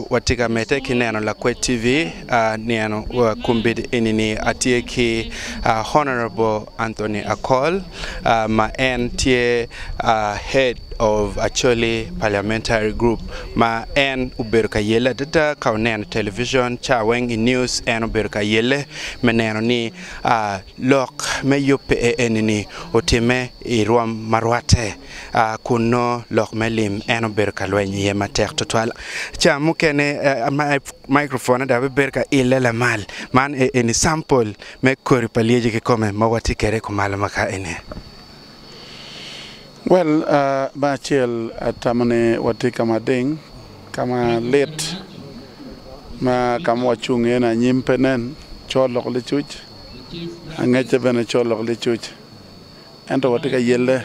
Watye ka medde ki neno Lakwed TV nino kombeddi enini. Atye ki Honourable Anthony Akol ma en tye Head of Acholi Parliamentary Group ma en obedo ka yelle adada ka oneno i television ca weng i news en obedo ka yelle me neno ni lok me yubbe enini otimme i rwom ma rwatte. A Kun nongo lok me lim en obedo ka lweny iye matek tutwal. Ca mukene microphone dok bibedo ka ile lamal. Man e eni sample me kodi pa lyeci kikome ma watye kede kumalo ma ka eni. Well, bang acel atamo ni watye ka ma ding, ka ma lit, ma ka ma wacung iye ni anyim pe nen, col lok licuc, angecce bene col lok licuc. Ento watye ka yelle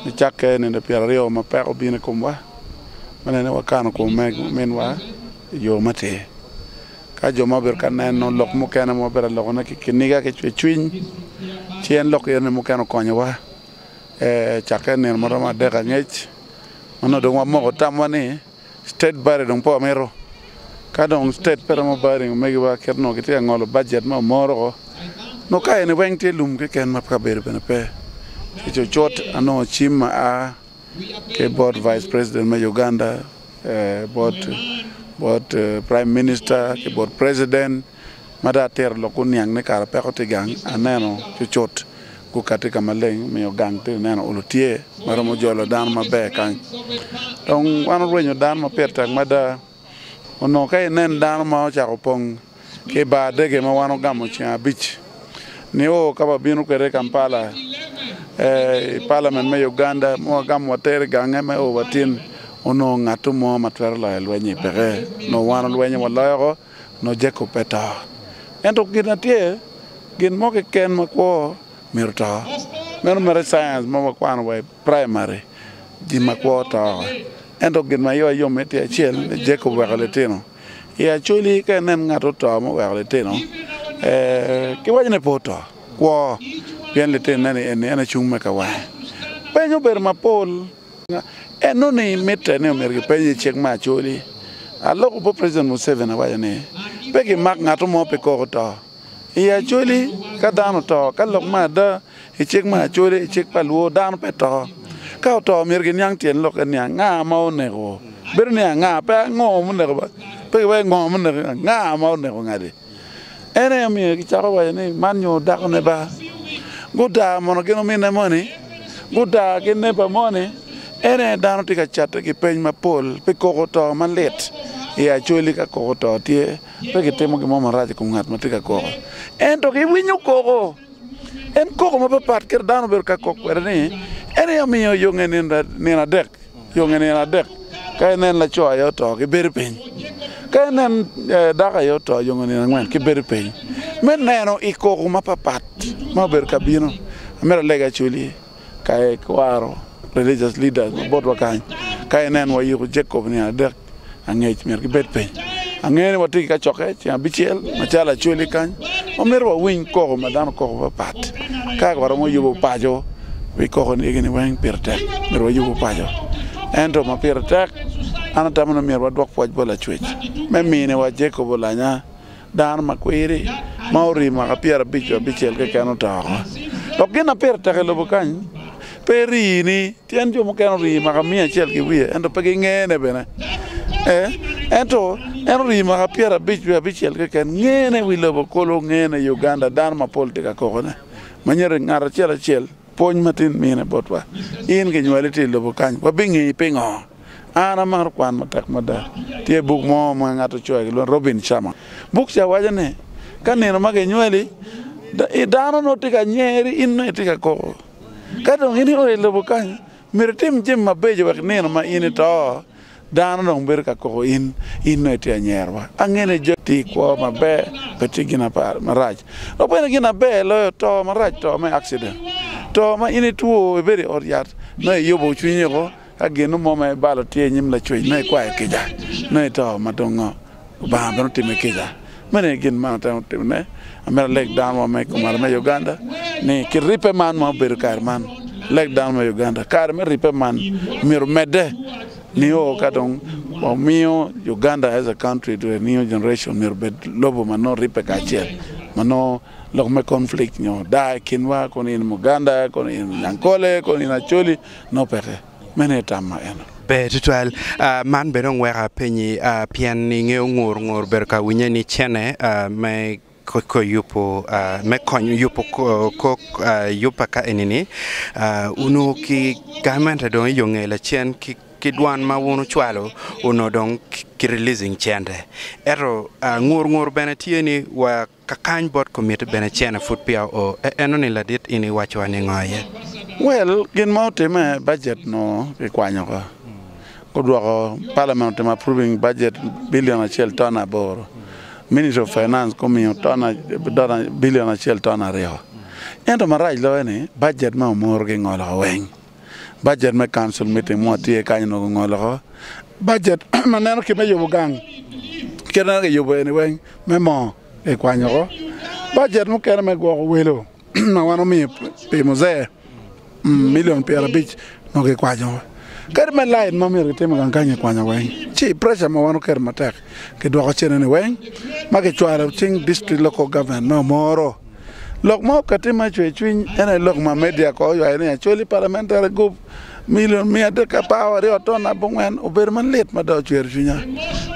ni cakke nino pyeraryo ma peko obino i komwa me neno ni wakano kwon me ominwa i yo matir. Ka jo ma obedo ka neno lok mukene ma wabedo ka lokone ki kiniga ki cwercwiny, ci en lok eno ni mukene okonyowa. Ee, cakke nino ma romo adek angec ma nongo dong wamoko tamwa ni, state budget dong pe wamito ka dong state pe romo budget ding omegi wa kit onongo kitye ka ngolo budget ma omoro ko nongo ka eni weng tye lum keken ma kabedo bene pe ki cucut anongo cim ma a ki bot vice president me Uganda bot prime minister ki bot president Ma dong atito lok oniang ni kara peko tye i gang, aneno cucut gukati ka maleng omiyo gang tye ineno olo tye ma romo jolo dano maber kany. Dong wan orwenyo dano ma pire tek mada. Onongo ka inen dano ma ocako opong ki i bar dege ma wan ogamo ceng abic nio ka wabino kwede i Kampala, i palament me Uganda ma wagamo watere i gange me o watin, onongo ngato mo ma twero loyo lweny-nyi peke. Onongo wan olwenyo waloyoko. nongo Jacob pe to. Ento gin ma tye, gin mo keken ma kwo myero to. Meno mere i science ma wakwano wa i praimari, jin ma kwo to. Ento gin ma iwa yom-mi tye acel ni Jacob oweko litino. I Acholi ka inen ngat oto ma oweko litino, kiwaco ni pe oto, kwo, pien litinone-ni eni en acung me kawange. Peny obedo mapol. En nongo ni mitte ni omyero gipeny i cik me Acholi. Aloko obwo President Museveni awaco ni, Pe gimak ngato mo pi koko to i Acholi. Ka dano oto, ka lok me ada i cik me Acholi, i cik pa luo, dano pe to. Ka oto myero giniang tyen lokke ni anga ma oneko. Bedo ni anga, pe ango muneko, pe giwaco ngo muneko, anga ma oneko ngati. En aye omiyo gicako waco ni, 'Man nyo dakone ba. Gudaa mono gin ominne moni? Gudaa gin neba moni? En aye dano tye ka catte ki peny mapol pi koko to malit i acwali. Ka koko to tye, pe gitimo gin mo marac i kom ngat ma tye ka koko, ento giwinyo koko. En koko mapapat kit dano bedo ka kok kwede ni en aye omiyo yonge nino adek, yonge nino adek ka inen laco aye oto ki bedo piny, ka inen dako aye oto yonge nino angwen ki bedo piny. Me neno i koko mapapat ma obedo ka bino, amito alega cwinyi. Ka ikwaro religious leaders ma botwa kany, ka ineno wa yuku Jacob nino adek angec myero gibed piny. Angeyo ni watye ki kacokke ceng abicel macalo Acholi kany ma myero wawiny koko ma dano koko mapat pat. Ka waromo yubu paco wi koko ni egini weng pire tek myero wayubu paco. Ento ma pire tek an atamo ni myero wadwok pwoc bot Lacwec me mini wa Jacob olanya. Dano ma kwiri ma orii mwaka pyerabic ki abicel keken oto oko. Dok gin ma pire tek i lobo kany pe rii ni tyen jo mukene orii mwaka miya acel ki wiye ento pe gingene bene. Ee, ento en orii mwaka pyerabic wiye abicel keken. Ngene i wi lobo kulu, ngene i Uganda, dano mapol tye ka kokone. Manyero ngat acel acel. Pwony ma tin mine botwa. In kinywali tye i lobo kany? Wabingeyi pingo? An amaro kwan matek mada. Tye buk mo ma ngat ocoyo ki lwongo ni Robin Sharma. Buk ca waco ni, Ka nino ma kinywali, dano nongo tye ka nyeri, in nongo itye ka koko. Ka dong in ioyo i lobo kany, myero itim jami mabeco wek nino ma in ito, Dano dong bedo ka koko in, in dong itye anyerwa. Ange ni jo ti kwo maber pe ti gin marac. Dok bene gin aber loyo to marac to me accident. To ma in itwo ibedo i ot yat nongo iyubo cwinyi oko ka gin mo ma ibalo tye inyim lacwec nongo ikwayo kica nongo ito madongo. Lubanga bene otimme kica. Meno aye gin ma atemo timone. Amito aleg dano wa me kumara me Uganda ni ki ribbe man ma obedo kare man, leg dano me Uganda kare me ribbe man myero omedde nio ka dong wamiyo Uganda as a country to a new generation myero obed lobo ma nongo ribbe kacel ma nongo lok me conflict nyo daa i kinwa kono in Muganda, kono in Nyankole, kono in Acholi nongo peke. Meno aye tam ma en. Ber tutwal. Man bene dong weko apenyi pien i nge ongur ngur bedo ka winye ni cene me ko yubo me konyo yubo kok yuba ka eni ni onur ki gamente dong iyo nge lacen ki dwan ma wun ucwalo onur dong ki releasing cente eto ngur ngur bene tye ni wa Kakany bot komitti bene cene pud peya oo. E enoni ladit in iwaco wa ni ngo aye? Well, gin ma otimme, budget onongo kikwanyo oko. Gudwoko parliament otimo approving budget billion acel ton aboro. Ministry of finance gumiyo ton dola billion acel ton aryo. Ento marac loyo ni budget me omuru gingolo weng. Bajet me Council Meeting mo tye kany onongo ongolo oko bajet ma neno kit me yubo gang, kit ma nongo kiyubo eni weng me moo kikwanyo oko, bajet mukene me gwoko welo ma wan omiyo pi Muzee milion pyerabic nongo kikwanyo oko, kadi me light ma myero kitim i gang kany kikwanyo weng ci pressure ma wan oketo matek. Kidwoko cene-ni weng ma kicwalo cing District Local Government me Omoro. Lok ma okatti ma cwer cwiny en aye lok ma media kono oywayo ni Acholi Parliamentary Gup Million miya adek apar waryo ton abongwen obedo ma lit mada ocwero cwinya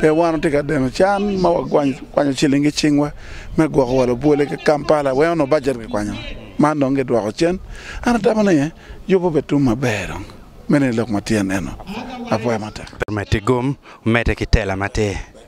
pien wan watye ka deno can ma wakwanyo ciling ki cingwa me gwoko wa labwole ki Kampala wek onongo bajet kikwanyo man dong gidwoko cen an atamo ni yubo bene tum maber dong. Meno aye lok ma tyen eno. Apwoya matek. Omedde gum, omedde ki tela matir.